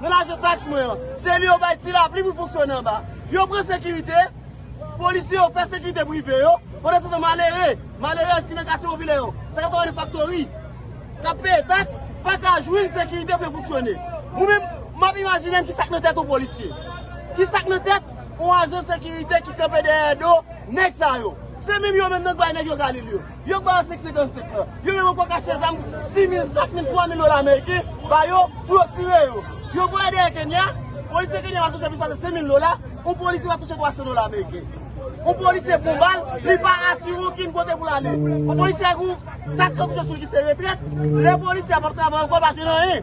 Nan lajan taks mwen an. Se li yo bay ti lapli pou fonksyone anba. Yo pran sekirite, polisye yo fè sekirite prive yo, pandan se tan malere, malerèz ki nan katye popilè yo, sa kapab ane faktori, k ap peye taks, pa ka jwenn sekirite pou yo fonksyone. Mwen menm, m ap imajine m ki sa k nan tèt yon polisye. Ki sa k nan tèt yon ajan sekirite ki kanpe dèyè do nèg sa yo. Se menm yo menm nan k bay nèg yo galil yo. Yo k ba yo 557 lan. Yo menm anko kache zam 6000, 4000, 3000 dola ameriken ba yo pou yo tire yo. Yo voye dèyè Kenya, polisye Kenya va touche plis pase 5000 dola, on polisye va touche 300 dola ameriken. On polisye pran bal, li pa asire okenn kote pou l ale. On polisye gen yon taks yo touche sou li ki se retrèt, lè polisye a pap travay anko l pa asire nan anyen.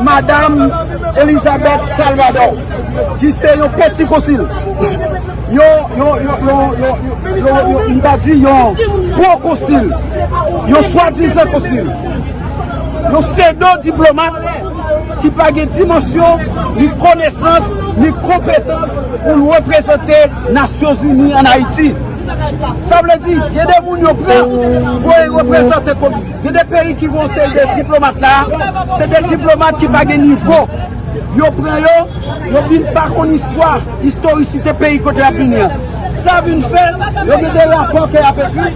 Madam Elizabeth Salvador ki se yon peti konsil, yon pro konsil, yon swa dizan konsil, yon sedo diplomat ki pa gen dimansyon, ni konesans, ni konpetans pou l reprezante Nasyon Zini an Ayiti. Sa vle di, gen de moun yo pran pou yo reprezante konsil. Gen de peyi ki voye yon seri de diplomat la, se de diplomat ki pa gen nivo. Yo pran yo, yo vin pa konn istwa, istorisite peyi kote y ap vini an. Sa vin fè, yo gen de rapò ke y ap ekri,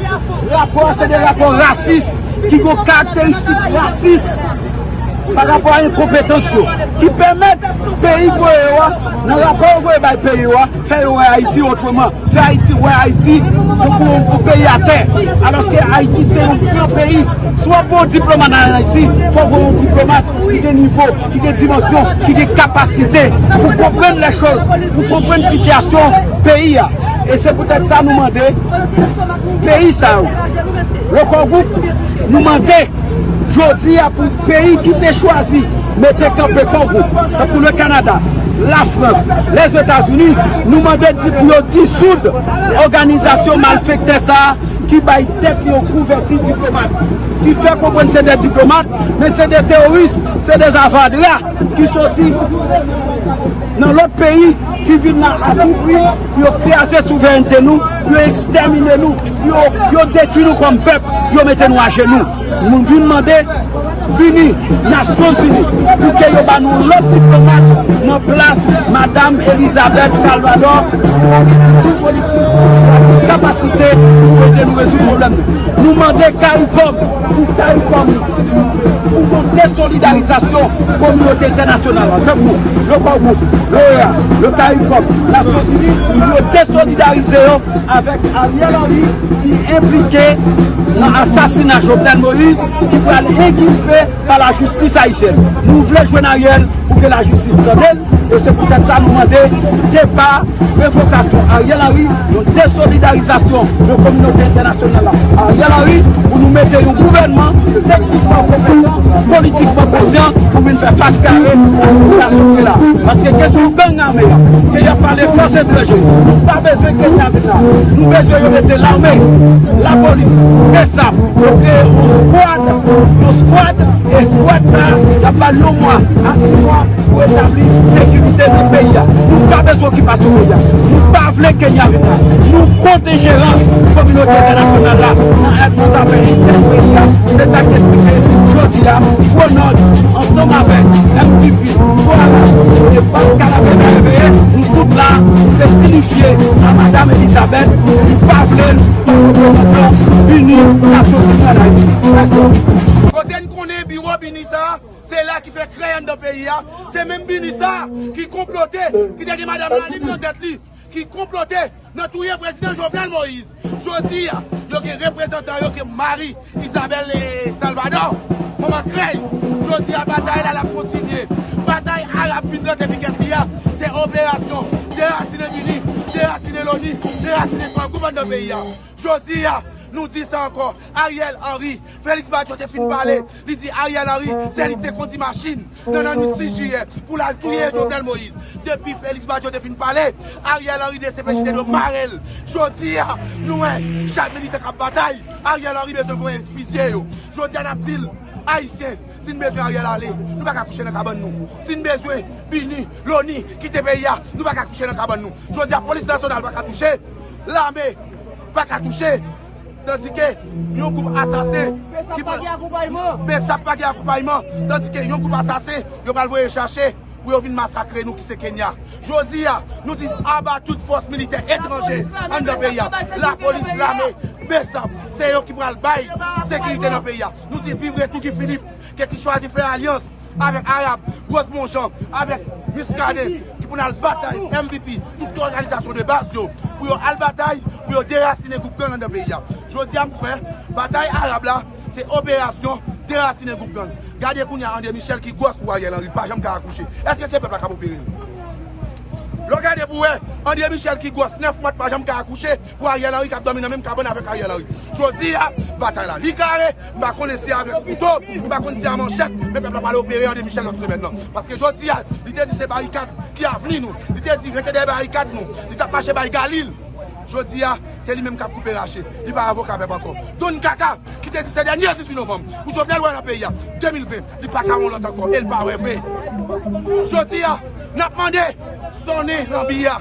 rapò a se de rapò rasis, ki gen karakteristik rasis pa rapò a enkonpetans yo, ki pèmèt peyi voye yo a, nan rapò yo voye bay peyi yo a, Fè yo wè Ayiti otreman, fè Ayiti wè Ayiti tankou yon gwo peyi atè, alòske Ayiti se yon gran peyi. Si w ap voye yon diplomat an Ayiti, fò w voye yon diplomat ki gen nivo, ki gen dimansyon, ki gen kapasite pou konprann lèchoz, pou konprann sitiyasyon peyi a. E se poutèt sa nou mande peyi sa yo, Record Group, nou mande. Jodi a pou peyi ki te chwazi mete kanpe Kongo, tankou le Kanada, la Frans, Lèzetazini, nou mande di pou yo disoud òganizasyon malfektè sa a ki bay tèt yo kouvèti diplomat, ki fè konprann se de diplomat men se de teworis, se de avadra ki soti. nan lòt peyi ki vin la a tou pri pou yo kraze souverènte nou, pou yo ekstèmine nou, pou yo detui nou kòm pèp, pou yo mete nou ajenou. Nou vin mande bini Nasyon Zini pou ke yo ba nou lòt diplomat nan plas Madam Elisabeth Salvador ki pa gen kilti politik, ki pa gen kapasite pou ede nou rezoud pwoblèm nou. Nou mande caricom pou caricom. Pou konplè solidarizasyon kominote entènasyonal la, tankou le Core Group, l'OEA, le Caricom, Nasyon Zini, yo desolidarize yo avèk Ariel Henry ki enplike nan asasina Jovenel Moïse ki pral enkilpe pa lajistis ayisyèn. Nou vle jwenn Ariel. pou ke la jistis tande l e se pou tèt sa nou mande depa revokasyon Ariel Henry yon desolidarizasyon de kominote entènasyonal la Ariel Henry pou nou mete yon gouvènman teknikman konpetan politikman konsyan pou vin fè fas kare a sitiyasyon ki la paske kesyon gang ame a ke y ap pale fòs etranje nou pa bezwen kenya vin la nou bezwen yo mete lame lapolis, bsap, yo kreye yon squad. Yon skwad, eskwad sa a, y ap ba l yon mwa a si mwa pou retabli sekirite nan peyi a. Nou pa bezwen okipasyon peyi a. Nou pa vle Kenya vin la. Nou kont enjerans kominote entènasyonal la nan zafè entèn peyi a, se sa k esplike jodi a Fronord ansanm avèk mpp. Vwala! E baz kanapè sa yo veye nou tout la pou te sinifye a Madam Elisabeth ke nou pa vle l kòm reprezantan BINUH Nasyon Zini an Ayiti. Mèsi! Kote n konnen biwo BINUH sa a, se la ki fè krèy anndan peyi a, se menm BINUH sa a ki konplote, ki te gen Madam Lalim nan tèt li. ki konplote nan touye prezidan Jovenel Moïse jodi a yo gen reprezantan yo ke Marie Isabelle Salvador manman krèy jodi a batay la lap kontinye batay Arab fin plante pikèt li a se operasyon derasine Bini derasine Loni derasine Franco pandan peyi a Jodi a, nou di sa ankò, Ariel Henry, Félix Badio te fin pale, li di Ariel Henry se li ki te kondi machin nan nannuit 6 jiyè pou l al touye Jovenel Moïse. Depi Félix Badio te fin pale, Ariel Henry dcpj te dwe mare l. Jodi a, nou wè, chak militan k ap batay, Ariel Henry bezwen voye fizye yo. Jodi a n ap di l, Ayisyen, si n bezwen Ariel ale, nou pa ka kouche nan kabann nou. Si n bezwen BINUH, Loni, kite peyi a, nou pa ka kouche nan kabann nou. Jodi a, polis nasyonal pa ka touche. Lame paka touche tandike yon gwoup asasen ki pral Bsap pa gen akonpayman tandike yon gwoup asasen yo pral voye chache pou yo vin masakre nou ki se Kenya jodi a nou di aba tout fòs militè etranje anndan peyi a lapolis lame Bsap se yo ki pral bay sekirite nan peyi a nou di viv retou Guy Philippe. Ke ki chwazi fè alyans avèk Arab, Rosemond Jean, avèk Muscadin ki pou nal batay MVP tout òganizasyon de baz yo pou yo al batay pou yo derasinen gwoup gang anndan peyi a. Jodi a m kwè batay Arab la se operasyon derasinen gwoup gang. Gade kounye a André Michel ki gwòs pou Ariel Henry pa janm ka akouche. Eske se pèp la kap opere l? Lè w gade pou wè André Michel ki gwòs 9 mwat pa janm ka akouche. Pou Ariel Henry kap domi nan menm kabann avek Ariel Henry. Jodi a batay la li kare, m pa konnen si avek kouto, m pa konnen si a manchèt, men pèp la pale opere André Michel lot semèn nan. Paske jodi a li te di se barikad ki avni nou, li te di rete dèyè barikad nou, li tap mache bay galil. Jodi a se li menm kap koupe rache, li pa avoka pèp anko. Don kaka ki te di se dènye 18 novanm pou Jovenel wè nan peyi a 2020, li paka wè yon lot anko el pa wè vre. Jodi a nap mande sone lanbi a.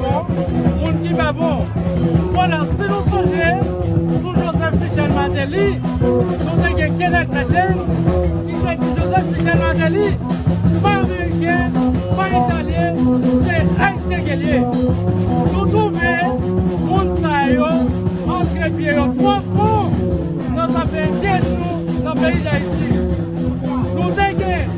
Moun ki pa bon. Konan si nou sonje sou Joseph Michel Martelly nou te gen Kenneth Bedin ki te di Joseph Michel Martelly pa Ameriken, pa Italyen se Ayisyen ke l ye. Nou twouve moun sa yo antre pye yo twò fon nan zafè enterni nou nan peyi Dayiti. Nou te gen.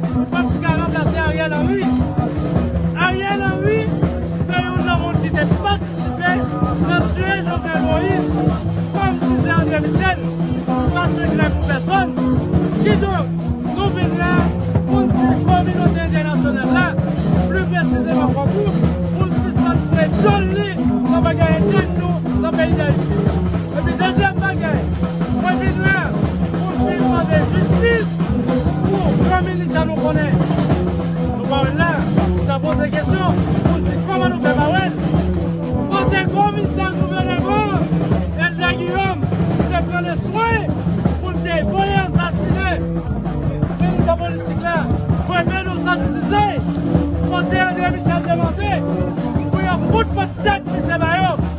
Nou pap ki ka ranplase Ariel Henry. Ariel Henry se youn nan moun ki te patisipe nan tiye Jovenel Moïse kom ki se Andre Michel se pa sekrè pou pèsòn. Kidonk nou vin la pou n di kominote entènasyonal la, pli presizeman Konkou pou l sispann foure dyòl li nan bagay entèn nou nan peyi Dayiti. Epi dezyèm bagay mwen vin la pou m vin mande jistis. Pou pran minit la nou konnen nou pa wè l la, nou ta poze kesyon pou n di kòman nou fè pa wè l. Kote komisè Gouvènè Van, Elda Guillaume, te pran le swen pou l te voye asasine Militan politik la René Nou Santidize? Kote André Michel te mande pou yo fout pot tèt misye ba yo?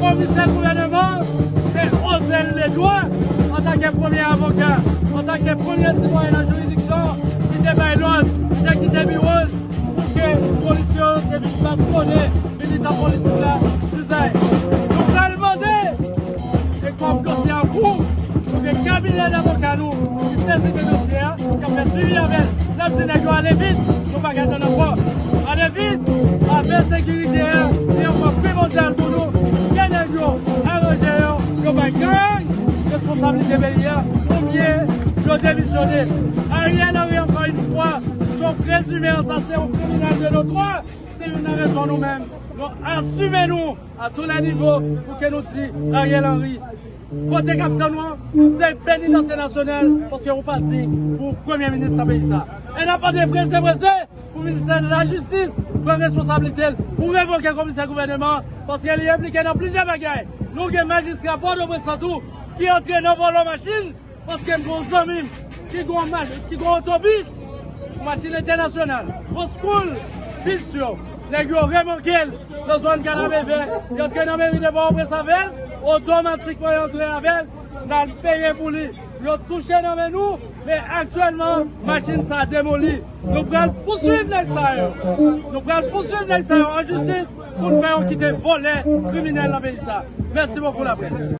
Komisè gouvèneman an se Osel Ledwa, antanke premye avoka, antanke premye sitwayen nan jiridiksyon an, ki te bay lòd, ki te kite biwo l pou ke polisye yo te vin baskone militan politik la Dizay. Nou pral mande, e kòm dosye a an kou, pou ke kabinè davoka nou ki sezi de dosye a, k ap fè swivi avè l, l ap di nèg yo ale vit. Nou pa ka tann ankò! Ale vit! Afè sekirite a se yon pwen primòdyal pou nou! Kè nèg yo aranje yo! Yo bay gang responsablite peyi a oubyen yo demisyone! Ariel Henry ankò yn fwa se yon prezime ansasen, yon kriminèl de notwa! Se youn nan rezon nou menm nou asime nou a tou lè nivo pou ke nou di Ariel Henry Kote kap tann ou an se penitansye nasyonal paske ou pa diy pou premye minis nan peyi sa. E nap mande prese prese pou ministè lajistis pran responsablitel pou revoke komisè gouvèneman an paske li enplike nan plizyè bagay. Nou gen majistra pòtoprens lan tou ki antre nan vòlò machin. Paske m gen yon zanmi m ki gen yon otobis, machin entènasyonal, oscool bis yo, nèg yo remòke l nan zòn Kanapevè, y antre nan meri de Pòtoprens avè l, otomatikman y antre avè l, n al peye pou li, yo touche nan men nou, men aktyèlman machin sa demoli. Nou pral pouswiv nèg sa yo, nou pral pouswiv nèg sa yo an jistis pou n fè yo kite vòlè, kriminèl nan peyi sa. Mèsi bokou laprès.